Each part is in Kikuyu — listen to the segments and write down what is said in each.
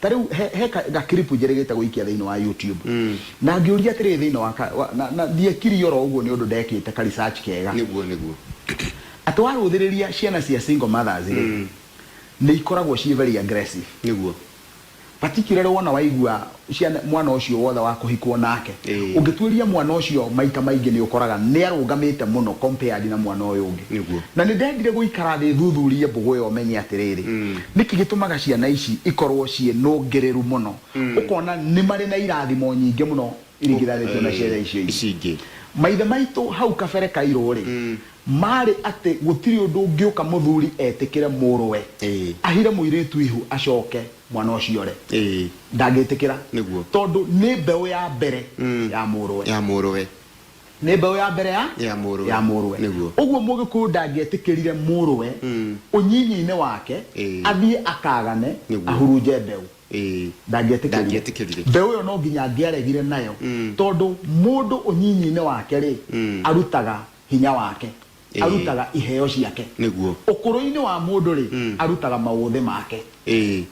Ta rĩu he, he ka, ga clip njĩrĩgĩte gũikia thĩinĩ wa YouTube. Na ngĩũria atĩrĩrĩ thĩinĩ wa, ka, wa na, na ndiekirie oro ũguo nĩ ũndũ ndekĩte ka research kega. Nĩguo, nĩguo. Atĩ warũthĩrĩria ciana cia single mothers rĩ, nĩ ikoragwo ciĩ very aggressive. Nĩguo. Particularly wona waigua ciana, mwana ũcio wothe wa kũhikwo nake. Ĩĩ. Ũngĩtuĩria mwana ũcio maita maingĩ nĩ ũkoraga nĩ arũgamĩte mũno compared na mwana ũyũ ũngĩ. Nĩguo. Na nĩ ndendire gũikara thĩ thuthurie mbũgũ ĩyo menye atĩrĩrĩ, Nĩkĩ gĩtũmaga ciana ici ikorũo ciĩ nũngĩrĩru mũno? Ũkona nĩ marĩ na irathimo nyingĩ mũno iringithanĩtio na ciana icio ingĩ. Ici ingĩ. Maithe maitũ hau kabere kairũ-rĩ, maarĩ atĩ gũtirĩ ũndũ ũngĩũka mũthuri etĩkĩre mũrũwe Ĩĩ. ahire mũirĩtu ihu acoke mwana ũcio ũre. Ĩĩ. Ndangĩtĩkĩra. Nĩguo. Tondũ nĩ mbeũ ya mbere ya mũrũwe. Ya mũrũwe. Nĩ mbeũ ya mbere ya ya mũrũwe ya mũrũwe nĩguo ũguo mũgĩkũyũ ndangĩetĩkĩrire mũrũwe ũnyinyi-inĩ wake Ĩĩ. athiĩ akagane Nĩguo. ahurunje mbeũ Ĩĩ. ndangĩetĩkĩrire Ndangĩetĩkĩrire. mbeũ ĩyo no nginya angĩaregire nayo tondũ mũndũ ũnyinyi-inĩ wake rĩ arutaga hinya wake Ĩĩ. arutaga iheo ciake. Nĩguo. Ũkũrũ-inĩ wa mũndũ-rĩ, Mm. arutaga maũthĩ make. Ĩĩ.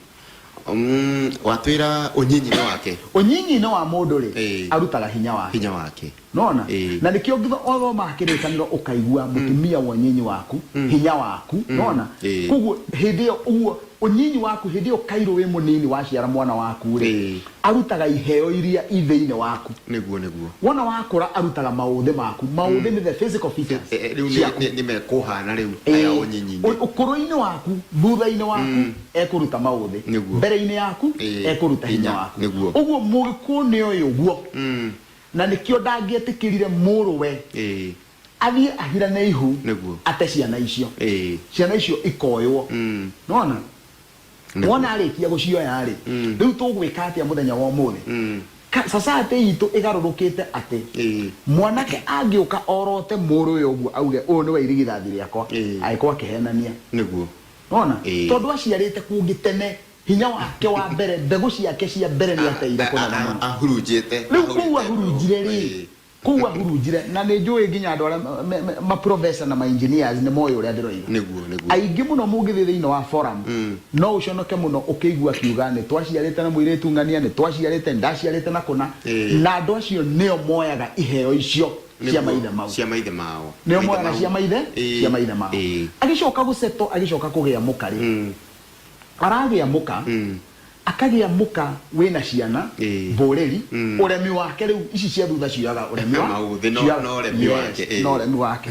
Mm, watwĩra ũnyinyi-inĩ wake Ũnyinyi-inĩ wa mũndũ-rĩ, Ĩĩ. arutaga hinya wake. hinya wake Nona? Ĩĩ. Na nĩkĩo ngitho othomaga kĩrĩkanĩro ũkaigua mũtumia wa ũnyinyi waku, hinya waku, nona? Ĩĩ. Koguo hĩndĩ ĩyo ũguo Ũnyinyi waku, hĩndĩ ĩyo Kairũ wĩ mũnini waciara mwana waku-rĩ, Ĩĩ. arutaga iheo iria i thĩinĩ waku. Nĩguo, nĩguo. Wona wakũra arutaga maũthĩ maku. Maũthĩ nĩ the physical Ĩ- features ĩ- rĩu nĩ- ciaku. nĩ- nĩmekũhana rĩu Ĩĩ. aya ũnyinyi-inĩ. Ũ- Ũkũrũ-inĩ waku, thutha-inĩ waku, ekũruta maũthĩ. Nĩguo. Mbere-inĩ yaku, Ĩĩ. ekũruta hinya Hinya. waku. Nĩguo. Ũguo Mũgĩkũyũ nĩoĩ ũguo. Na nĩkĩo ndangĩetĩkĩrire mũrũwe. Ĩĩ. athiĩ ahira nĩ ihu Nĩguo. ate ciana icio Ĩĩ. ciana icio ikoywo Mm. nona Nĩguo. wona arĩkia gũcioya rĩ Mm. rĩu tũgwĩka atĩa mũthenya wa ũmũthĩ Mm. Ka- society itũ ĩgarũrũkĩte atĩ Ĩĩ. mwanake angĩũka orote mũrũwe ũguo auge ũyũ nĩwe irigithathi rĩakwa Ĩĩ. agĩkorwo akĩhenania Nĩguo. nona Ĩĩ. tondũ aciarĩte kũngĩ tene hinya wake wa mbere mbegũ ciake cia mbere nĩ ateire kũnene mũno Ahurunjĩte. rĩu kũu ahurunjire rĩ Ĩĩ. Kũu ahurunjire, na nĩ njũĩ nginya andũ arĩa ma- ma- ma- ma professor na ma engineers nĩ moĩ ũrĩa ndĩroiga. Nĩguo, nĩguo. Aingĩ mũno mũngĩthiĩ thĩinĩ wa forum, no ũconoke mũno ũkĩigua akiuga nĩ twaciarĩte na mũirĩtu ng'ania, nĩ twaciarĩte, nĩ ndaciarĩte na kũna. Ĩĩ. Na andũ acio nĩo moyaga iheo icio cia Nĩguo, maithe mau. cia maithe mao nĩo Maithe moyaga mau. cia maithe Ĩĩ, cia maithe mao ĩĩ. agĩcoka gũceto agĩcoka kũgĩa mũka rĩ aragĩa mũka Akagĩa mũka wĩna ciana, Ĩĩ. mboreri, Mm. ũremi wake rĩu ici cia thutha cioyaga ũremi wa Maũthĩ, no- cioyaga- no ũremi Yes, wake, ĩĩ. no ũremi wake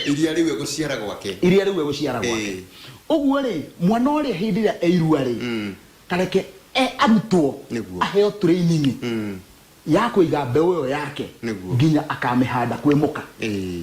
iria rĩu egũciara gwake iria rĩu egũciara gwake Ĩĩ. ũguo rĩ mwana ũrĩa hĩndĩ ĩrĩa eirua rĩ Mm. kareke e- arutwo Nĩguo. aheo training Mm. ya kũiga mbeũ ĩyo yake Nĩguo. nginya akamĩhanda kwĩ mũka Ĩĩ.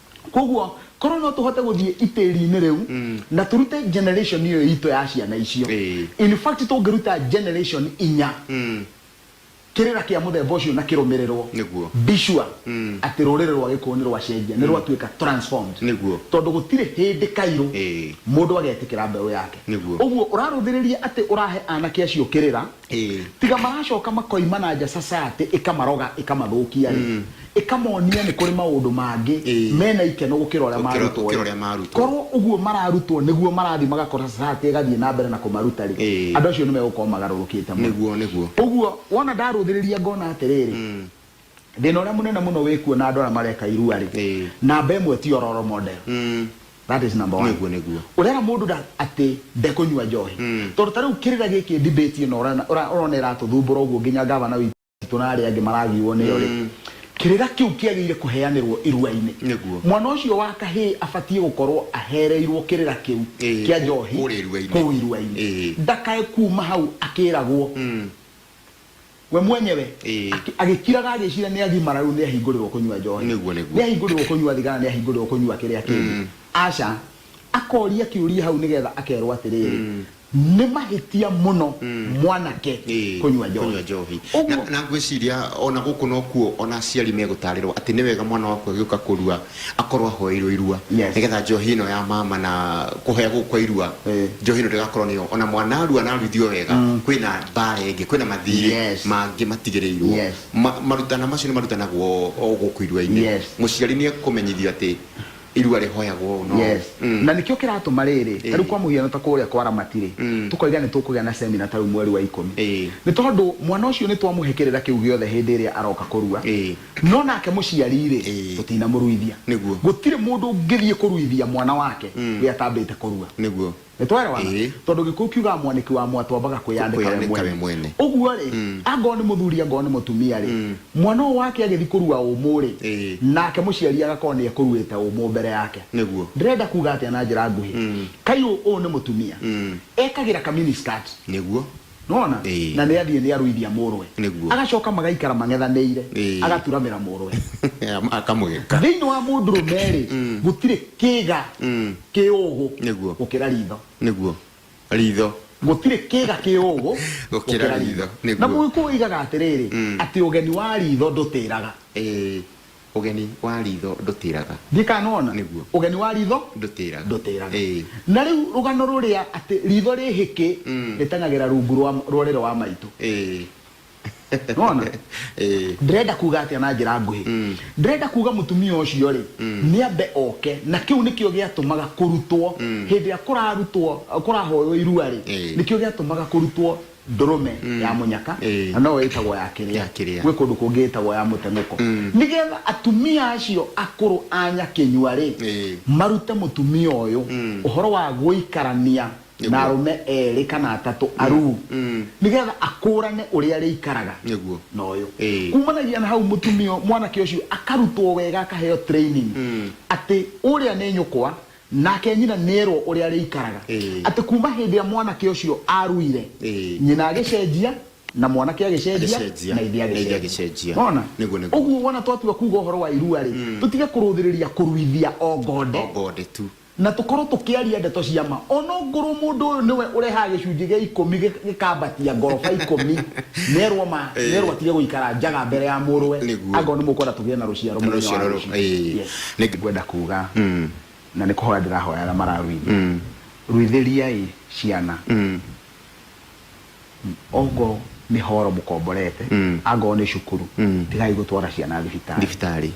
Koguo korwo no tũhote gũthiĩ itĩri-inĩ rĩu na tũrute generation ĩyo itũ ya ciana icio. Ĩĩ. In fact tũngĩruta generation inya kĩrĩra kĩa mũthemba ũcio na kĩrũmĩrĩrwo, Nĩguo. be sure atĩ rũrĩrĩ rwa Gĩkũyũ nĩ rwacenjia, nĩ rwatuĩka transformed. Nĩguo. Tondũ gũtirĩ hĩndĩ kairũ Ĩĩ. mũndũ agetĩkĩra mbeũ yake. Nĩguo. Ũguo ũrarũthĩrĩria atĩ ũrahe anake acio kĩrĩra, Ĩĩ. Tiga maracoka makoima na nja society ĩkamaroga ĩkamathũkia rĩ, ĩkamonia nĩ kũrĩ maũndũ mangĩ Ĩĩ. mena ikeno gũkĩra ũrĩa Gũkĩra- marutwo gũkĩra rĩ. ũrĩa marutwo. Korwo ũguo mararutwo nĩguo marathiĩ magakora society ĩgathiĩ na mbere na kũmaruta rĩ, Ĩĩ. andũ acio nĩ megũkorwo magarũrũkĩte mũno. Nĩguo, nĩguo. Ũguo wona ndarũthĩrĩria ngona atĩrĩrĩ, Thĩna ũrĩa mũnene mũno wĩ kuo na andũ arĩa mareka irua-rĩ, Ĩĩ. namba ĩmwe ti o role model. Mm. That is number one. Nĩguo, nĩguo. Ũrera mũndũ nda- atĩ ndekũnyua njohi. Mm. Tondũ ta rĩu kĩrĩra gĩkĩ debate ĩno ũrona- ũra- ũrona ĩratũthumbũra ũguo nginya ngavana witũ na arĩa angĩ maragiwo nĩyo-rĩ, Mm. kĩrĩra kĩu kĩagĩrĩire kũheanĩrwo irua-inĩ. Nĩguo. Mwana ũcio wa kahĩĩ abatiĩ gũkorwo ahereirwo kĩrĩra kĩu Ĩĩ, kĩa kũ- njohi kũrĩa irua-inĩ. kũu irua-inĩ. Ĩĩ. Ndakae kuma hau akĩragwo. Mm. we mwenyewe Ĩĩ. akĩ- agĩkiraga agĩcira nĩ agimara rĩu nĩ ahingũrĩrwo kũnyua njohi Nĩguo, nĩguo. nĩ ahingũrĩrwo kũnyua thigara nĩ ahingũrĩrwo kũnyua kĩrĩa kĩngĩ aca akoria kĩũria hau nĩgetha akerwo atĩrĩrĩ nĩ mahĩtia mũno mwanake Ĩĩ, kũnyua kũnyua njohi njohi Ũguo- na, na ngwĩciria ona gũkũ nokuo ona aciari megũtarĩrwo atĩ nĩ wega mwana waku agĩũka kũrua akorwo ahoeirwo irua Yes. nigetha njohi ĩno ya mama na kũhoya gũkũ kwa irua Eh. njohi ĩno ndĩgakorwo nĩyo ona mwana arua na aruithio wega kwĩna mbara ĩngĩ kwĩna mathirĩ Yes. mangĩ matigĩrĩirwo Yes. Ma- marutana macio nĩ marutanagwo o gũkũ iruainĩ Yes. mũciari nĩ ekũmenyithio atĩ irua rĩhoyagwo no Yes. Mm. na nĩkĩo kĩratũma rĩrĩ Ĩĩ. tarĩu kwa mũhiano ta kũrĩa kwa ramati rĩ Mm. tũkoiga nĩ tũkũgĩa na semina tarĩu mweri wa ikũmi Ĩĩ. nĩ tondũ mwana ũcio nĩ twamũhe kĩrĩra kĩu gĩothe hĩndĩ ĩrĩa aroka kũrua Ĩĩ. No nake mũciari-rĩ, Ĩĩ. tũtinamũruithia. Nĩguo. Gũtirĩ mũndũ ũngĩthiĩ kũruithia mwana wake we atambĩte kũrua. Nĩguo. Nĩtwaĩrawana? Ĩĩ. Tondũ Gĩkũyũ kiugaga mwanĩki wa mwatũ ambaga kwĩyandĩka we Kwĩyandĩka we mwene. mwene. Ũguo-rĩ, angorwo nĩ mũthuri angorwo nĩ mũtumia-rĩ, mwana ũyũ wake agĩthiĩ kũrua ũmũ-rĩ, Ĩĩ. nake mũciari agakorwo nĩekũruĩte ũmũ mbere yake. Nĩguo. Ndĩrenda kuga atĩa na njĩra nguhĩ? Kayũ ũyũ nĩ mũtumia. Ekagĩra ka mini skirt. Nĩguo. Nĩwona? Ĩĩ. Na nĩathiĩ nĩarũithia mũrũwe. Nĩguo. Agacoka magaikara mang'ethanĩire. Ĩĩ. Agaturamĩra mũrũwe. Akamũgeka. Thĩinĩ wa mũndũrũme-rĩ, gũtirĩ kĩĩga kĩ ũũgũ Nĩguo. gũkĩra ritho. Nĩguo. Ritho. Gũtirĩ kĩĩga kĩ ũũgũ Gũkĩra ritho. Nĩguo. Na Mũgĩkũyũ oigaga atĩrĩrĩ, atĩ ũgeni wa ritho ndũtĩraga. Ĩĩ. Ũgeni wa riitho ndũtĩraga. Ndikanoona. Nĩguo. Ũgeni wa riitho. Ndũtĩraga. Ndũtĩraga. Ĩĩ. Na rĩu rũgano rũrĩa atĩ riitho rĩ hĩkĩ rĩteng'agĩra rungu rwa rwa rĩro wa maitũ. Ĩĩ. Nĩwona? Ĩĩ. Ndĩrenda kuuga atĩa na njĩra nguhĩ? Ndĩrenda kuuga mũtumia ũcio-rĩ, nĩambe oke, na kĩu nĩkĩo gĩatũmaga kũrutwo, hĩndĩ ĩrĩa kũrarutwo, kũrahoywo irua-rĩ, Ĩĩ. nĩkĩo gĩatũmaga kũrutwo ndũrũme mm. ya mũnyaka eh. na no ĩtagwo ya kĩrĩa gwĩ kũndũ kũngĩ ĩtagwo ya mũteng'ũko mm. nĩgetha atumia acio akũrũ a nyakĩnyua rĩ eh. marute mũtumia ũyũ mm. ũhoro wa gũikarania na arũme erĩ kana atatũ aruu nĩgetha akũrane ũrĩa arĩikaraga na ũyũ eh. kumanagia na hau mũtumia mwanake ũcio akarutwo wega akaheo training atĩ ũrĩa nĩ nyũkwa Nake nyina nĩerwo ũrĩa arĩikaraga. Atĩ kuuma hĩndĩ ĩrĩa mwanake ũcio aaruire, nyina agĩcenjia, na mwanake agĩcenjia, na ithe agĩcenjia. Nĩwona? Ũguo wona twatua kuuga ũhoro wa irua-rĩ, tũtige kũrũthĩrĩria kũruithia o ngonde, na tũkorwo tũkĩaria ndeto cia ma. O na ongorwo mũndũ ũyũ nĩwe ũrehaga gĩcunjĩ gĩa ikũmi gĩkambatia ngoroba ikũmi, nĩerwo ma, nĩerwo atige gũikara njaga mbere ya mũrũwe, angorwo nĩmũkwenda tũgĩe na rũciaro mũthenya wa rũciũ. Nĩngwenda kuuga na nĩ kũhoya ndĩrahoyaga mararuithia ruithĩriai ciana ongorwo nĩ horo mũkomborete angorwo nĩ cukuru tigai gũtwara ciana thibitarĩ thibitarĩ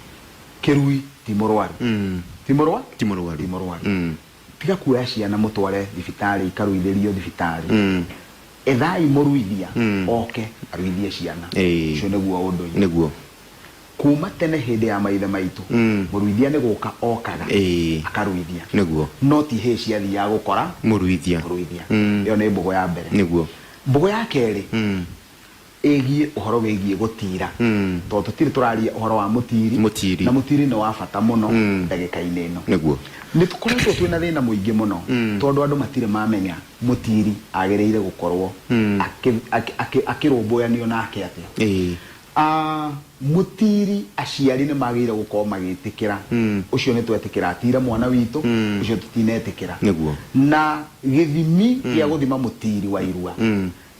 kĩrui ti mũrwaru ti mũrwa ti mũrwaru ti mũrwaru tiga kuoya ciana mũtware thibitarĩ ikaruithĩrio thibitarĩ ethai mũruithia oke aruithie ciana Ĩĩ. ũcio nĩguo ũndũire nĩguo Kuuma tene hĩndĩ ya maithe maitũ, mũruithia nĩ gũka okaga akaruithia, no ti hĩĩ ciathiaga gũkora mũruithia. Ĩyo nĩ mbũgũ ya mbere. Mbũgũ ya kerĩ ĩgiĩ ũhoro wĩgiĩ gũtiira, tondũ tũtirĩ tũraria ũhoro wa mũtiiri, na mũtiiri nĩ wa bata mũno ndagĩka-inĩ ĩno. Nĩ tũkoretwo twĩ na thĩna mũingĩ mũno, tondũ andũ matirĩ mamenya mũtiiri agĩrĩire gũkorwo akĩrũmbũyanio nake atĩa. A Mũtiiri, Aciari nĩ magĩrĩire gũkorwo magĩtĩkĩra ũcio nĩ twetĩkĩra atiire mwana witũ, ũcio tũtinetĩkĩra. Nĩguo. Na gĩthimi gĩa gũthima mũtiiri wa irua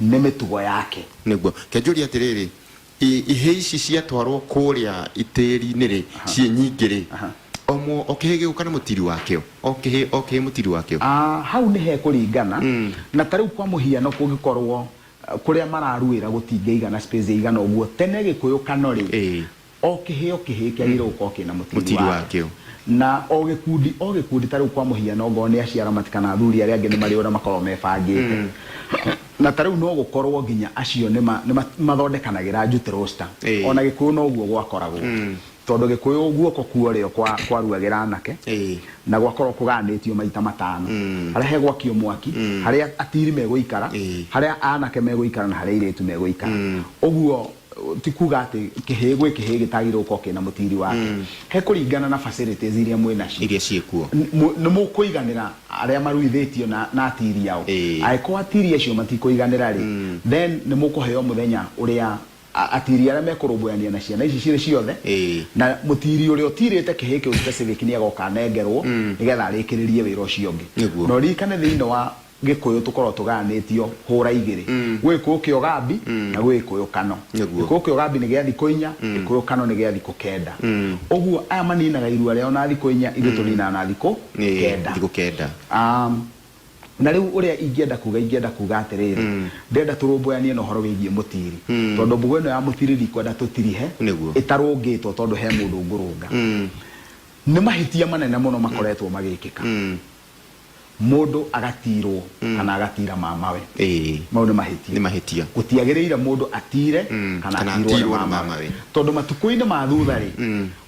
nĩ mĩtugo yake. Nĩguo. Ke njũrie atĩrĩrĩ, i, ihĩĩ ici ciatwarwo kũũrĩa tĩĩri-inĩ-rĩ, ciĩ nyingĩ-rĩ, o mũ, o kĩhĩĩ gĩgũka na mũtiiri wakĩo? O kĩhĩĩ, o kĩhĩĩ mũtiiri wakĩo? A Hau nĩ hekũringana, na ta rĩu kwa mũhiano kũngĩkorwo Kũrĩa mararuĩra gũtingĩigana space ĩigana ũguo. Tene gĩkũyũ kano rĩ, o kĩhĩo kĩhĩĩ kĩagĩrĩirwo gũkorwo kĩna mũtiri wakĩo. Na o gĩkundi o gĩkundi ta rĩu kwa mũhiano ongorwo nĩ aciaramati kana athuri arĩa angĩ nĩ marĩ ũrĩa makoragwo mebangĩte. Na ta rĩu no gũkorwo nginya acio nĩ mathondekanagĩra njutĩ roster. Ona gĩkũyũ noguo gwakoragwo. Tondũ Gĩkũyũ guoko kuorĩo kwa kwaruagĩra anake na gwakorwo kũgayanĩtio maita matano, harĩa hegwakio mwaki, harĩa atiri megũikara, harĩa anake megũikara na harĩa airĩtu megũikara. Ũguo ti kuga atĩ kĩhĩĩ gwĩ kĩhĩĩ gĩtagĩrĩirwo gũkorwo kĩna mũtiri wake. He kũringana na facilities iria mwĩ nacio. Iria ciĩ kuo. Nĩ mũkũiganĩra arĩa maruithĩtio na na atiri ao. Angĩkorwo atiri acio matikũiganĩra rĩ, then nĩ mũkũheo mũthenya ũrĩa A, atiri arĩa mekũrũmbũyania na ciana ici cirĩ ciothe, Ĩĩ. na mũtiri ũrĩa ũtirĩte kĩhĩĩ kĩu specific nĩagoka anengerwo nĩgetha arĩkĩrĩrie wĩra ũcio ũngĩ. Nĩguo. Na ũririkane thĩinĩ wa Gĩkũyũ tũkoragwo tũgayanĩtio hũra igĩrĩ. Gwĩ Gĩkũyũ kĩa ũgambi na gwĩ Gĩkũyũ kano. Nĩguo. Gĩkũyũ kĩa ũgambi nĩ gĩa thikũ inya, Gĩkũyũ kano nĩ gĩa thikũ kenda. Ũguo aya maninaga irua rĩao na thikũ inya, ithuĩ tũninaga na thikũ Ĩĩ, kenda. thikũ kenda. Um, Na rĩu ũrĩa ingĩenda kuuga, ingĩenda kuuga atĩrĩrĩ, ndĩrenda tũrũmbũyanie na ũhoro wĩgiĩ mũtiiri. Tondũ mbugo ĩno ya mũtiiri ndikwenda tũtirihe Nĩguo. ĩtarũngĩtwo tondũ he mũndũ ngũrũnga. Nĩ mahĩtia manene mũno makoretwo magĩkĩka. Mũndũ agatiirwo kana agatiira mamawe. Ĩĩ. Mau nĩ mahĩtia. Nĩ mahĩtia. Gũtiagĩrĩire mũndũ atiire kana Kana atiirwo nĩ atiirwo nĩ mamawe. mamawe. Tondũ matukũ-inĩ ma thutha-rĩ,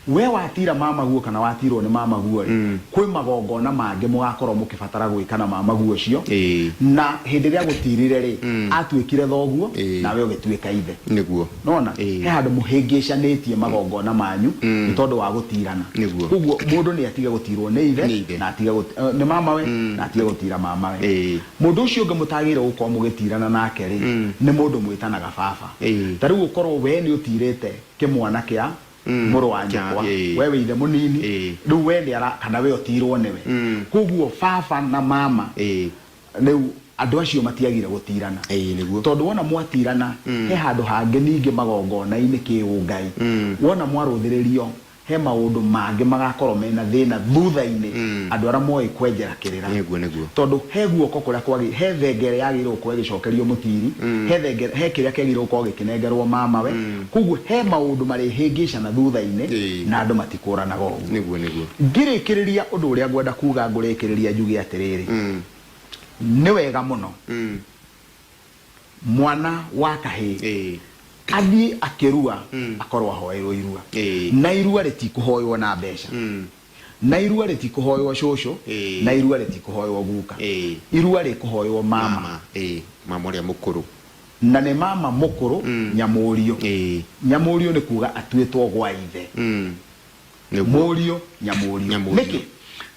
Wee watiira mamaguo kana watiirwo nĩ mamaguo-rĩ, kwĩ magongona mangĩ mũgaakorwo mũkĩbatara gwĩka na mamaguo ũcio, na hĩndĩ ĩrĩa agũtiirire-rĩ, aatuĩkire thoguo, nawe ũgĩtuĩka ithe. Nĩwona? He handũ mũhĩngĩcanĩtie magongona manyu nĩ tondũ wa gũtiirana. Kwoguo mũndũ nĩ atige gũtiirwo nĩ ithe, na atige nĩ mamawe, na atige gũtiira mamawe. Mũndũ ũcio ũngĩ mũtagĩrĩirwo gũkorwo mũgĩtiirana nake-rĩ, nĩ mũndũ mwĩtanaga baba. Ta rĩu ũkorwo wee nĩ ũtiirĩte kĩmwana kĩa Mm, mũrũ wa kĩa- nyũkwa ĩĩ. we wĩ ithe mũnini Ĩĩ. rĩu we nĩ ara kana we ũtirwo nĩwe Mm. koguo baba na mama Ĩĩ. rĩu andũ acio matiagire gũtirana Ĩĩ, nĩguo. tondũ wona mwatirana Mm. he handũ hangĩ ningĩ magongona-inĩ kĩũngai Mm. wona mwarũthĩrĩrio he maũndũ mangĩ magakorwo mena thĩna thutha-inĩ Mm. andũ arĩa moĩ kwenjera kĩrĩra Nĩguo, nĩguo. tondũ he guoko kũrĩa kwagi he thengere yagĩrĩirwo gũkorwo ĩgĩcokerio mũtiri Mm. he thengere he kĩrĩa kĩagĩrĩirwo gũkorwo gĩkĩnengerwo mamawe Mm. Kwoguo he maũndũ marĩhĩngĩcana thutha-inĩ, Ĩĩ. na andũ matikũũranaga ũguo. Nĩguo, nĩguo. Ngĩrĩkĩrĩria ũndũ ũrĩa ngwenda kuuga ngũrĩkĩrĩria njuge atĩrĩrĩ, Mm. nĩ wega mũno Mm. mwana wa kahĩĩ Ĩĩ. athiĩ akĩrua Mm. akorwo ahoerwo irua, Ĩĩ. na irua rĩtikũhoywo na mbeca. Mm. Na irua rĩtikũhoywo cũcũ Ĩĩ. na irua rĩtikũhoywo guka Ĩĩ. irua rĩkũhoywo mama, mama ĩĩ mama ũrĩa mũkũrũ na nĩ mama mũkũrũ nyamũriũ ĩĩ nyamũriũ nĩ kuga atuĩtwo gwa ithe Mm. Nĩguo. mũriũ nyamũriũ Nyamũriũ. nĩkĩ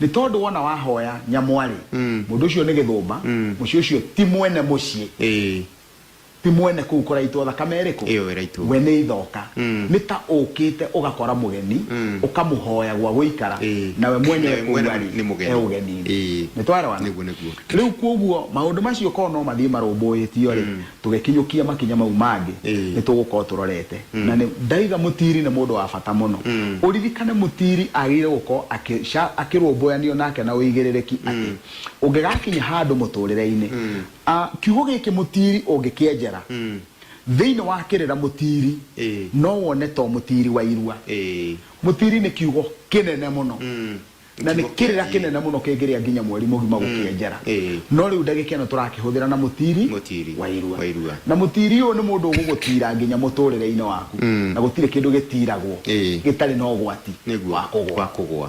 nĩ tondũ wona wahoya nyamwarĩ Mm. mũndũ ũcio nĩ gĩthũmba Mm. mũciĩ ũcio ti mwene mũciĩ ĩĩ Ti mwene kũu kũraitwo thakame ĩrĩkũ? Ĩyo ĩraitwo. We nĩ ithoka. Nĩ ta ũũkĩte ũgakora mũgeni, ũkamũhoya gwa gũikara, Ĩĩ. na we mwene e Nawe kũu mwene arĩ, nĩ mũgeni. e ũgeni-inĩ. Ĩĩ. Nĩ twaerewana? Nĩguo, nĩguo. Rĩu kwoguo, maũndũ macio korũo no mathiĩ marũmbũĩtio-rĩ, tũgĩkinyũkia makinya mau mangĩ, Ĩĩ. nĩ tũgũkorũo tũrorete. Na nĩ, ndaiga mũtiiri nĩ mũndũ wa bata mũno. Ũririkane mũtiiri agĩrĩire gũkorũo akĩ, akĩrũmbũyanio nake na ũigĩrĩrĩki atĩ, ũngĩgakinya handũ mũtũũrĩre-inĩ, A, Kiugo gĩkĩ mũtiiri ũngĩkĩenjera thĩinĩ wa kĩrĩra mũtiiri no wone to mũtiiri wa irua. Mũtiiri nĩ kiugo kĩnene mũno na nĩ kĩrĩra kĩnene mũno kĩngĩrĩa nginya mweri mũgima gũkĩenjera. No rĩu ndagĩka ĩno tũrakĩhũthĩra na mũtiiri wa irua. Na mũtiiri ũyũ nĩ mũndũ ũgũgũtiira nginya mũtũrĩre-inĩ waku na gũtirĩ kĩndũ gĩtiiragwo gĩtarĩ na ũgwati wa kũgũa.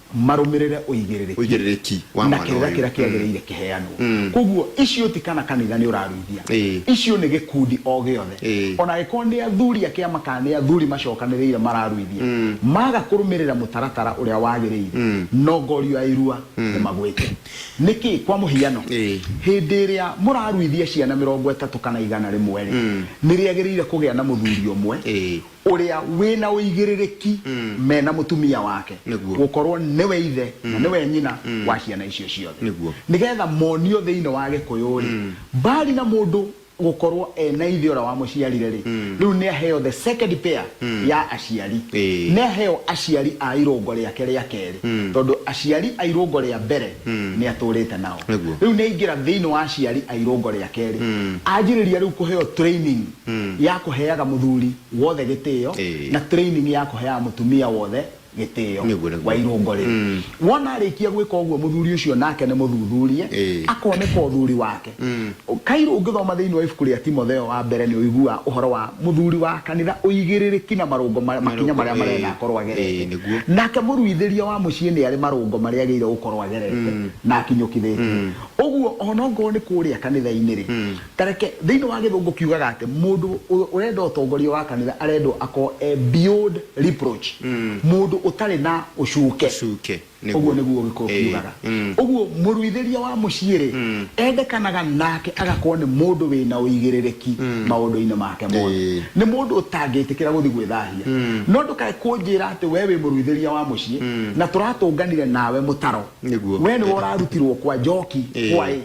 marũmĩrĩre ũigĩrĩrĩki ũigĩrĩrĩki wa na mwana kĩrĩra ũyũ. kĩrĩa kĩagĩrĩire kĩheanwo koguo icio ti kana kanitha nĩ ũraruithia Ĩĩ. icio nĩ gĩkundi o gĩothe Ĩĩ. ona angĩkorwo nĩ athuri a kĩama kana nĩ athuri macokanĩrĩire mararuithia maga kũrũmĩrĩra mũtaratara ũrĩa wagĩrĩire no ngorio ya irua nĩ magwĩte nĩkĩ kwa mũhiano Ĩĩ. hĩndĩ ĩrĩa mũraruithia ciana mĩrongo ĩtatũ kana igana rĩmwe rĩ nĩ rĩagĩrĩire kũgĩa na mũthuri ũmwe Ĩĩ. ũrĩa wĩ na ũigĩrĩrĩki me na mũtumia wake, Nĩguo. gũkorwo nĩwe ithe na nĩwe nyina wa ciana icio ciothe, Nĩguo. nĩgetha monio thĩinĩ wa gĩkũyũ-rĩ, mbali na mũndũ gũkorwo e na ithe ũrĩa wamũciarire-rĩ, rĩu nĩ aheo the second pair ya aciari, Ĩĩ. nĩ aheo aciari a irũngo rĩake rĩa kerĩ, tondũ aciari a irũngo rĩa mbere nĩ atũrĩte nao, Nĩguo. rĩu nĩ aingĩra thĩinĩ wa aciari a irũngo rĩa kerĩ, anjĩrĩria rĩu kũheo training mm. ya kuheaga muthuri wothe gitio hey. na training ya kuheaga mutumia wothe gitio wa irungo ri mm. wona arikia gwika uguo muthuri ucio nake ni muthuthurie hey. akoneka uthuri wake mm. kairu ungithoma thiini wa ibuku ria timotheo wa mbere ni uigua uhoro wa muthuri wa kanitha uigiririki na marungo makinya maria marenda akorwo agerete nake muruithiria wa mucii ni ari marungo maria agirire gukorwo agerete mm. na akinyukithitie mm. uguo ona ngorwo ni kuria kanitha-ini ri mm. Ta reke, thĩinĩ wa Gĩthũngũ kiugaga atĩ mũndũ ũrenda ũtongoria wa kanitha arendwo akorwo e beyond reproach, mũndũ ũtarĩ na ũcuke. Ũcuke, nĩguo. Ũguo nĩguo Ũgĩkũyũ Ĩĩ, kiugaga. mm. Ũguo mũruithĩria wa mũciĩ-rĩ, endekanaga nake agakorwo nĩ mũndũ wĩ na ũigĩrĩrĩki maũndũ-inĩ make mothe. Ĩĩ. Nĩ mũndũ ũtangĩtĩkĩra gũthiĩ gwĩthahia. No ndũkae kũnjĩra atĩ wee wĩ mũruithĩria wa mũciĩ na tũratũnganire nawe mũtaro. Nĩguo. Wee nĩwe ũrarutirwo kwa njoki, Ĩĩ. kwa ĩ.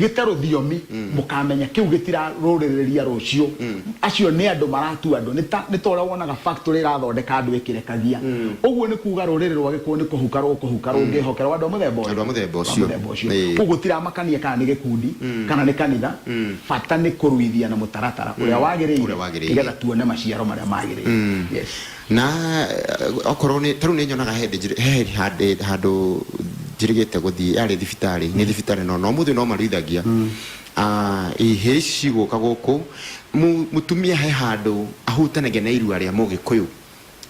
gĩte rũthiomi mũkamenya kĩu gĩtirarũrĩrĩria rũciũ acio nĩ andũ maratua andũ nĩ ta nĩ ta ũrĩa wonaga factory ĩrathondeka andũ ĩkĩrekagia ũguo nĩ kuga rũrĩrĩ rwa gĩkũyũ nĩ kũhuka rũkũhuka rũngĩhokerwo andũ a mũthemba ũyũ Andũ a mũthemba Andũ a ũcio. mũthemba ũcio Ĩĩ. koguo gũtiramakania kana nĩ gĩkundi kana nĩ kanitha bata nĩ kũruithia na mũtaratara ũrĩa wagĩrĩire Ũrĩa wagĩrĩire. nĩgetha tuone maciaro marĩa magĩrĩire yes Na eh, okorwo nĩ tarĩu nĩ nyonaga he hĩndĩ njĩrĩ- he handĩ handũ njĩrĩgĩte gũthiĩ yarĩ thibitarĩ nĩ thibitarĩ no no mũthĩ no maruithagia Ah, ihĩ ici cigũka gũkũ Mu- mũtumia he handũ ahutanagia na irua rĩa mũgĩkũyũ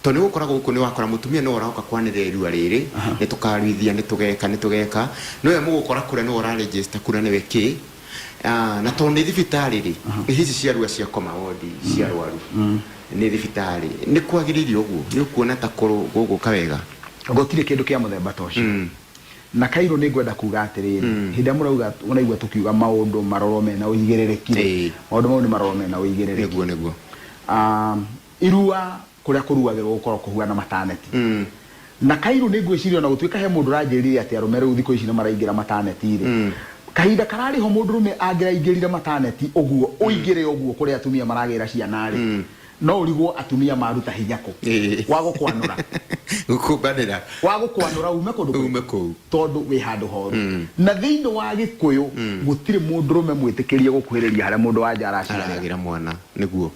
tondũ nĩ gũkora gũkũ nĩ wakora mũtumia nĩwe ũraoka kwanĩrĩra irua rĩrĩ nĩ tũkaruithia nĩ tũgeka nĩ tũgeka nĩwe mũgũkora kũrĩa nĩwe ũra register kura nĩwe kĩ Ah, na tondå nä thibitarä rä nä hici cia rua cia koma wondi cia arwaru nä thibitarä nä kwagä rä ire å guo nä å kuona ta kå gå ka wega gũtirĩ kĩndũ kĩa mũthemba ta ũcio Mm. na kairũ nĩ ngwenda kuga atĩrĩrĩ hĩndĩ ĩrĩa mũrauga mũraigua tũkiuga maũndũ marorwo mena ũigĩrĩrĩki Ĩĩ. maũndũ mau nĩ marorwo mena ũigĩrĩrĩki nĩguo nĩguo Ah, irua kũrĩa kũruagĩrwo gũkoragwo kũhuana mataneti. Na Kairu nĩ ngwĩciria o na gũtuĩka he mũndũ ũranjĩrire atĩ arũme rĩu thikũ ici nĩ maraingĩra mataneti-rĩ, kahinda kararĩ ho mũndũrũme angĩraingĩrire mataneti ũguo, ũingĩre ũguo kũrĩa atumia maragĩĩra ciana-rĩ, no ũrigwo atumia maruta hinya kũ wa gũkwanũra. Gũkũmbanĩra. Wa gũkwanũra uume kũndũ kũrĩkũ. Uume kũu. Tondũ wĩ handũ horu. Na thĩinĩ wa Gĩkũyũ gũtirĩ mũndũrũme mwĩtĩkĩrie gũkuhĩrĩria harĩa mũndũ wa nja araciarĩra. Araragĩra mwana. Nĩguo.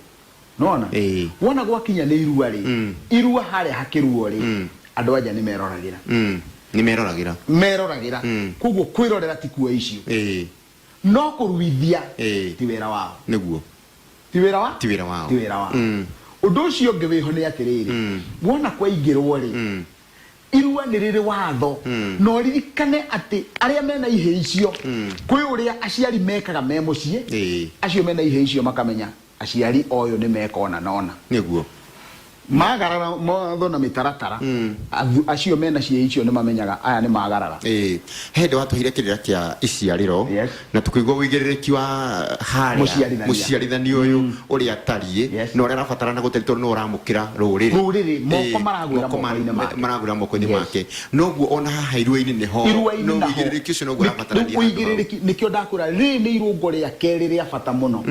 nona Ĩĩ. wona gwakinya nĩ irua rĩ Mm. irua harĩa hakĩruo rĩ Mm. andũ anja nĩ meroragĩra Mm. nĩ meroragĩra meroragĩra Mm. koguo kwĩrorera ti kuoya icio Ĩĩ. no kũruithia Ĩĩ. ti wĩra wao nĩguo ti wĩra wa Ti wĩra wao. ti wĩra wao Mm. ũndũ ũcio ũngĩ wĩho nĩ atĩrĩrĩ Mm. wona kwaingĩrwo rĩ Mm. irua nĩ rĩrĩ watho Mm. no ririkane atĩ arĩa mena ihĩ icio Mm. kwĩ ũrĩa aciari mekaga me mũciĩ Ĩĩ. acio mena ihĩ icio makamenya Aciari oyũ nĩ mekona nona. Nĩguo. Magarara mawatho na mĩtaratara, athu acio mena ciĩĩ icio nĩ mamenyaga aya nĩ magarara. Ĩĩ. He hĩndĩ watũheire kĩrĩra kĩa iciarĩro, Yes. na tũkĩigua ũigĩrĩrĩki wa harĩa Mũciarithania. mũciarithania ũyũ ũrĩa atariĩ, Yes. na ũrĩa arabatarana gũtari tondũ nĩwe ũramũkĩra rũrĩrĩ. Rũrĩrĩ, moko Ĩĩ, maragwĩra moko mara- moko-inĩ make. maragwĩra moko-inĩ Yes. make. Noguo o na haha iruainĩ nĩ ho. Iruainĩ No naho. ũigĩrĩrĩki ũcio noguo Nĩ- ũrabatarania rĩu handũ hau. ũigĩrĩrĩki nĩkĩo ndakwĩra rĩrĩ nĩ irũngo rĩa kerĩ rĩa bata mũno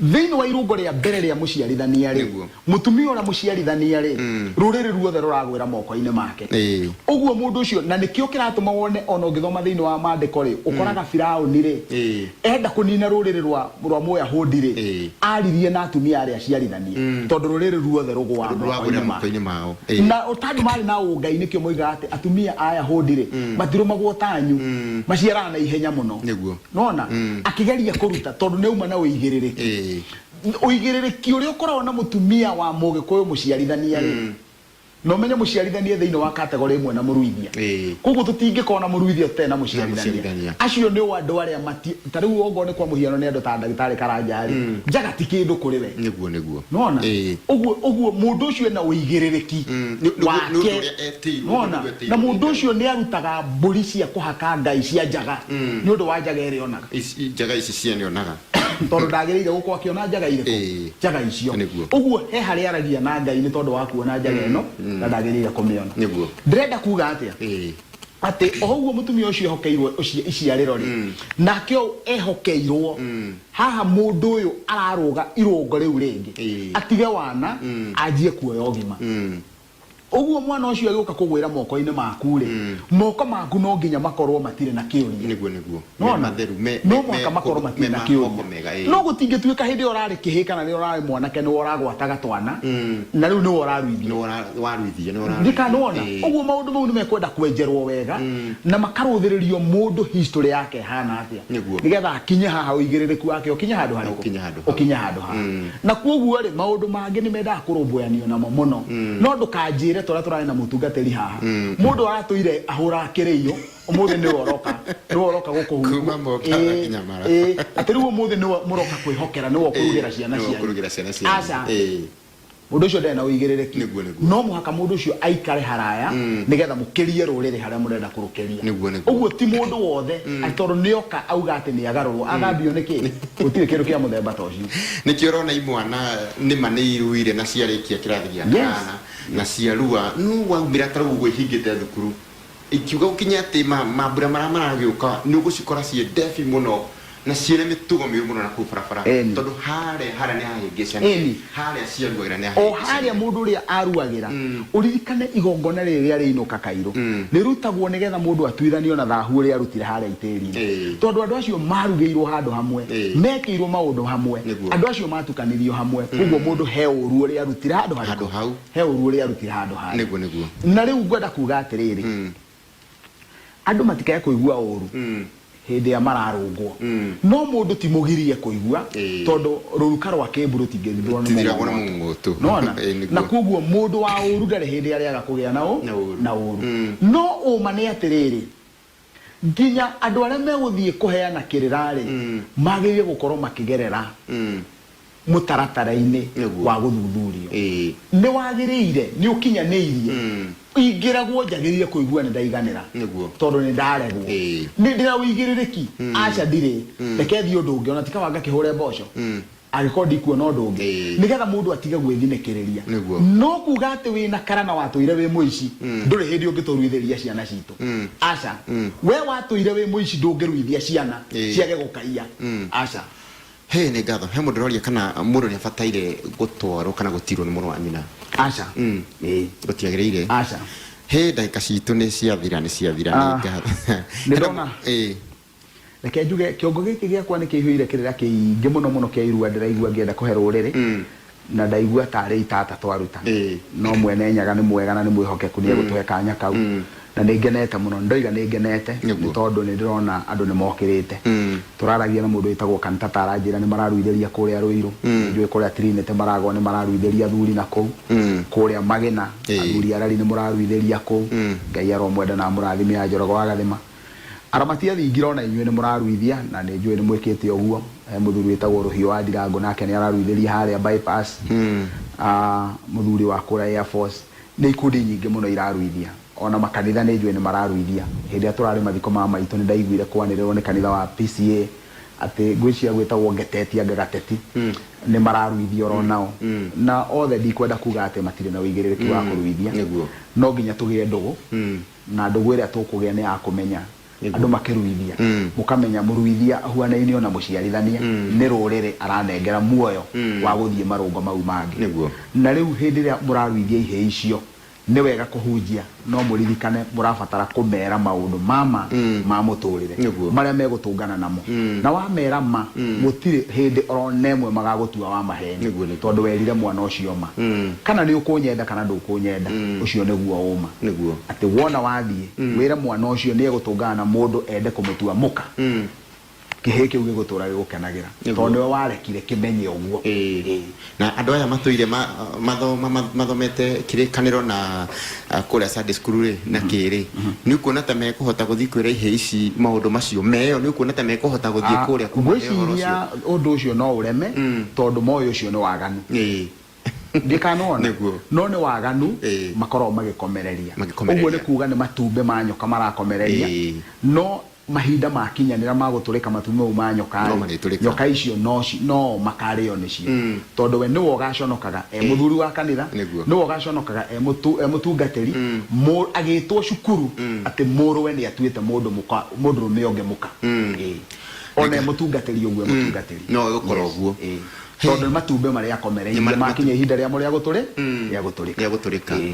thĩinĩ wa irũngo rĩa mbere rĩa mũciarithania rĩ Nĩguo. mũtumia ũrĩa mũciarithania rĩ rũrĩrĩ ruothe rũragwĩra mokoinĩ make Ĩĩ. ũguo mũndũ ũcio na nĩkĩo kĩratũma wone ona ũngĩthoma thĩinĩ wa mandĩko rĩ ũkoraga Firaũni rĩ Ĩĩ. Enda kũniina rũrĩrĩ rwa rwa Mũyahũndi-rĩ, Ĩĩ. aaririe na atumia arĩa aciarithanie, Mm. tondũ rũrĩrĩ ruothe rũgũa Rũagũre moko-inĩ make. moko-inĩ mao. Ĩĩ. Na o tondũ maarĩ na ũngai, nĩkĩo moigaga atĩ atumia a Ayahũndi-rĩ, Mm. matirũmagwo ta anyu, Mm. maciaraga na ihenya mũno. Nĩguo. Nĩwona? Mm. Akĩgeria kũruta, tondũ nĩauma na ũigĩrĩrĩki. Ĩĩ. Ũigĩrĩrĩki ũrĩa ũkoragwo na mũtumia wa Mũgĩkũyũ mũciarithania-rĩ, Mm. Na ũmenye mũciarithania thĩinĩ wa kategorĩ ĩmwe na mũruithia. Ĩĩ. Kwoguo tũtingĩkorwo na mũruithia tũtarĩ na mũciarithania. mũciarithania. Acio nĩ o andũ arĩa mati... Ta rĩu okorwo nĩ kwa mũhiano nĩ andũ ta Ndagĩtarĩ Karanja-rĩ, njaga ti kĩndũ kũrĩ we. Nĩguo, nĩguo. Nĩwona? Ĩĩ. Ũguo, ũguo mũndũ ũcio ena ũigĩrĩrĩki nĩ- nĩ- nĩ wake. ũndũ ũrĩa etĩirwo, nĩ Nĩwona? ũndũ etĩirwo Na nĩ mũndũ Ngai. ũcio nĩ arutaga mbũri cia kũhaka ngai cia njaga nĩ ũndũ wa njaga ĩrĩa onaga. Ici- Njaga ici ciene onaga. tondå ndagä rä ire gå korwo akä ona njaga irä Ĩĩ. kå njaga icio Nĩguo. å guo he harä aragia na ngai nä tondå wa kuona njaga ä no na ndagä rä ire kå mä ona Nĩguo. ndärenda kuga atä a Ĩĩ. atä o ũguo mũtumia ũcio ehokeirwo ũci- iciarĩro rĩ nake ũyũ ehokeirwo haha mũndũ ũyũ ararũga irũngo rĩu rĩngĩ Ĩĩ. atige wana anjie kuoya ũgima Ũguo mwana ũcio agĩũka kũgwĩra moko-inĩ maku-rĩ, moko maku no nginya makorwo matirĩ na kĩũria. Nĩguo, nĩguo. Me Nĩwona? matheru, me- me- No mũhaka me- makorwo me matirĩ na ma kĩũria. moko mega, ĩĩ. No gũtingĩtuĩka hĩndĩ ĩyo ũrarĩ kĩhĩĩ kana rĩrĩa ũrarĩ mwanake nĩwe ũragwataga twana, na rĩu nĩwe ũraruithia. Nĩ wara- waruithia, nĩ wararuithia. ndikanona Ĩĩ. ũguo maũndũ mau nĩ mekwenda kwenjerwo wega na makarũthĩrĩrio mũndũ history yake ĩhana atĩa Nĩguo. nĩgetha akinye haha ũigĩrĩrĩku wake ũkinye handũ harĩkũ ũkinye handũ haha. ũkinye handũ haha Na kwoguo-rĩ, maũndũ mangĩ nĩ mendaga kũrũmbũyanio namo mũno. No ndũkanjĩre ta ũrĩa tũrarĩ na mũtungatĩri haha, mũndũ aratũire ahũraga kĩrĩĩo, ũmũthĩ nĩwe ũroka, nĩwe ũroka gũkũ, Kuuma Mombatha ĩĩ, nginya Mara. ĩĩ, atĩ rĩu ũmũthĩ nĩwe mũroka kwĩhokera, nĩwe ũkũrugĩra Ĩĩ, ciana nĩwe cianyu. ũkũrugĩra ciana cianyu. Aca, Ĩĩ. mũndũ ũcio ndarĩ na ũigĩrĩrĩki. Nĩguo, nĩguo. No mũhaka mũndũ ũcio aikare haraya nĩgetha mũkĩrie rũrĩrĩ harĩa mũrenda kũrũkĩria. Nĩguo, nĩguo. Ũguo ti mũndũ wothe atĩ tondũ nĩoka auga atĩ nĩagarũrwo, agambio nĩkĩ? Gũtirĩ kĩndũ kĩa mũthemba ta ũcio. Nĩkĩo ũrona imwana nĩma nĩiruire na ciarĩkia kĩrathi gĩa Yes. kanana na ciarua nũ waumĩra tarĩu ũguo ihingĩte thukuru ikiuga gũkinya atĩ ma- mambura marĩa maragĩũka nĩũgũcikora ciĩ ndebi mũno na ciĩna mĩtugo mĩũru mũno nakũu barabara Ĩni. tondũ harĩa harĩa nĩhahĩngĩcana Ĩni. Haarĩa ciaruagĩra nĩ O haarĩa hahĩngĩcagio. mũndũ ũrĩa aaruagĩra. Ũririkane igongona rĩrĩ rĩa rĩainũka kairũ. Rĩrutagwo nĩgeetha mũndũ atuithanio na thaahu ũrĩa aarutire haarĩa itĩĩriinĩ. Ĩĩ. Tondũ andũ acio maarugĩirwo handũ hamwe, Ĩĩ. meekĩirwo maũndũ hamwe, Nĩguo. andũ acio maatukanirio hamwe, kwoguo mũndũ he ũũru ũrĩa aarutire handũ harĩkũ? Handũ hau. He ũũru ũrĩa aarutire handũ haarĩa. Nĩguo, nĩguo. Na rĩu ngwenda kuuga atĩrĩrĩ, Andũ matikae kũigua ũũru hĩndĩ ĩrĩa mararũngwo. No mũndũ ti mũgirie kũigua, Ĩĩ. tondũ rũruka rwa kĩĩmbu rũtingĩthithũrwo nĩ Rũtithiragwo nĩ mũng'ũng'ũtũ. mũng'ũng'ũtũ. Nĩwona? Ĩĩ, nĩguo. Na kwoguo mũndũ wa ũũru ndarĩ hĩndĩ ĩrĩa arĩaga kũgĩa na ũ- Na ũũru. na ũũru. Mm. No ũũma nĩ atĩrĩrĩ, nginya andũ arĩa megũthiĩ kũheana kĩrĩra-rĩ, magĩrĩire gũkorwo makĩgerera Mm. mũtaratara-inĩ Nĩguo. wa gũthuthurio Ĩĩ. nĩ wagĩrĩire nĩ ũkinyanĩirie Mm. ingĩragwo njagĩrĩire kũigua nĩ ndaiganĩra Nĩguo. tondũ nĩ ndaregwo Ĩĩ. nĩ ndĩna ũigĩrĩrĩki aca ndirĩ reke thiĩ ũndũ ũngĩ ona tikawa ngakĩhũre mboco Mm. angĩkorwo ndikuona ũndũ ũngĩ Ĩĩ. nĩgetha mũndũ atige gwĩthinĩkĩrĩria Nĩguo. no kuga atĩ wĩ na karana watũire wĩ mũici ndũrĩ hĩndĩ ũngĩtũruithĩria ciana citũ Mm. aca Mm. we watũire wĩ mũici ndũngĩruithia ciana Ĩĩ. ciage gũkaiya Mm. aca Hey, nĩ ngatho. He mũndũ ũroria kana mũndũ nĩ abataire gũtwarwo kana gũtirwo nĩ mũrũ wa nyina. Aca. Mm. Ĩĩ. Gũtiagĩrĩire. Aca. Hey, ndagĩka citũ nĩ ciathira nĩ ciathira nĩ Ah. ngatho. Nĩ Hena- ndona. Ĩĩ. reke njuge kĩongo gĩkĩ gĩakwa nĩ kĩihũire kĩrĩra kĩingĩ mũno mũno kĩa irua ndĩraigua ngĩenda kũhe rũrĩrĩ Na ndaigua ta arĩ itata twaruta. No Mwene Nyaga nĩ mwega na nĩ mwĩhokeku, nĩ egũtũhe kanya kau. Na nĩ ngenete mũno. Nĩ ndoiga nĩ ngenete nĩ tondũ nĩ ndĩrona andũ nĩ mokĩrĩte. Tũraragia na mũndũ wĩtagwo Cantata aranjĩra nĩ mararuithĩria kũrĩa Rũirũ. Nĩ njũĩ kũrĩa Trinity Maragwa nĩ mararuithĩria athuri na kũu. Kũrĩa Magĩna, athuri arari nĩ mũraruithĩria kũu. Ngai aromwenda na amũrathime Anjoroge wa Gathima. Aramati athingira o na inyuĩ nĩ mũraruithia na nĩ njũĩ nĩ mwĩkĩte ũguo. He mũthuri wĩtagwo Rũhiũ wa Ndirango nake nĩ araruithĩria harĩa bypass. Mũthuri wa kũrĩa Air Force. Nĩ ikundi nyingĩ mũno iraruithia. O na makanitha nĩ njũĩ nĩ mararuithia. Hĩndĩ ĩrĩa tũrarĩ mathiko ma maitũ nĩ ndaiguire kwanĩrĩrwo nĩ kanitha wa PCA atĩ ngwĩciria gwĩtagwo Ngeteti anga Gateti nĩ mararuithia o ro nao. Na othe ndikwenda kuga atĩ matirĩ na ũigĩrĩrĩki wa kũruithia. No nginya tũgĩe ndũgũ Na ndũgũ ĩrĩa tũkũgĩa nĩ ya kũmenya andũ makĩruithia, mũkamenya mũruithia ahuanaine o na mũciarithania, nĩ rũrĩrĩ aranengera muoyo wa gũthiĩ marũngo mau mangĩ. Na rĩu hĩndĩ ĩrĩa mũraruithia ihĩĩ icio, nĩ wega kũhunjia no mũririkane mũrabatara kũmera maũndũ ma ma ma mũtũrĩre marĩa megũtũngana namo. Na wamera ma, gũtirĩ hĩndĩ o na ĩmwe magagũtua wa maheeni. Nĩguo nĩguo. Tondũ werire mwana ũcio ma. Kana nĩ ũkũnyenda kana ndũkũnyenda, ũcio nĩguo ũma. Nĩguo. Atĩ wona wathiĩ, wĩre mwana ũcio nĩ egũtũngana na mũndũ ende kũmũtua mũka, kĩhĩĩ kĩu gĩgũtũũra gĩgũkenagĩra. Nĩguo. Tondũ nĩwe warekire kĩmenye ũguo. Ĩĩ. Ĩĩ. Na andũ aya matũire ma, mathoma, ma, mathomete kĩrĩkanĩro na ah, kũrĩa Sunday school rĩ na kĩ rĩ nĩ ukuona ta mekũhota gũthiĩ kwĩra ihĩ ici maũndũ macio meyo nĩ ukuona ta mekũhota gũthiĩ Ah, kũrĩa kuma he ũhoro ngwĩciria ũcio ũndũ ũcio no ũreme tondũ moĩ ũcio nĩ waganu Ĩĩ. ndĩkanona Nĩguo. no nĩ waganu Ĩĩ. makoragwo magĩkomereria Magĩkomereria. ũguo nĩ kuga nĩ matumbĩ ma nyoka marakomereria Ĩĩ. no Mahinda maakinyanĩra ma gũtũrĩka matu mau ma nyoka-rĩ, nyoka icio no o makaarĩo nĩcio, tondũ we nĩwe ũgaaconokaga e mũthuri wa kanitha, nĩwe ũgaaconokaga e mũtungatĩri, agĩtwo cukuru atĩ mũrũwe nĩ atuĩte mũndũ mũka, mũndũrũme ũngĩ mũka. Ĩĩ. O na e mũtungatĩri ũguo, e mũtungatĩri. No ũgũkora ũguo. Ĩĩ. Tondũ nĩ matumbĩ marĩa akomereirie, maakinya ihinda rĩamo rĩa gũtũrĩ, rĩa gũtũrĩka. Rĩa gũtũrĩka. Ĩĩ.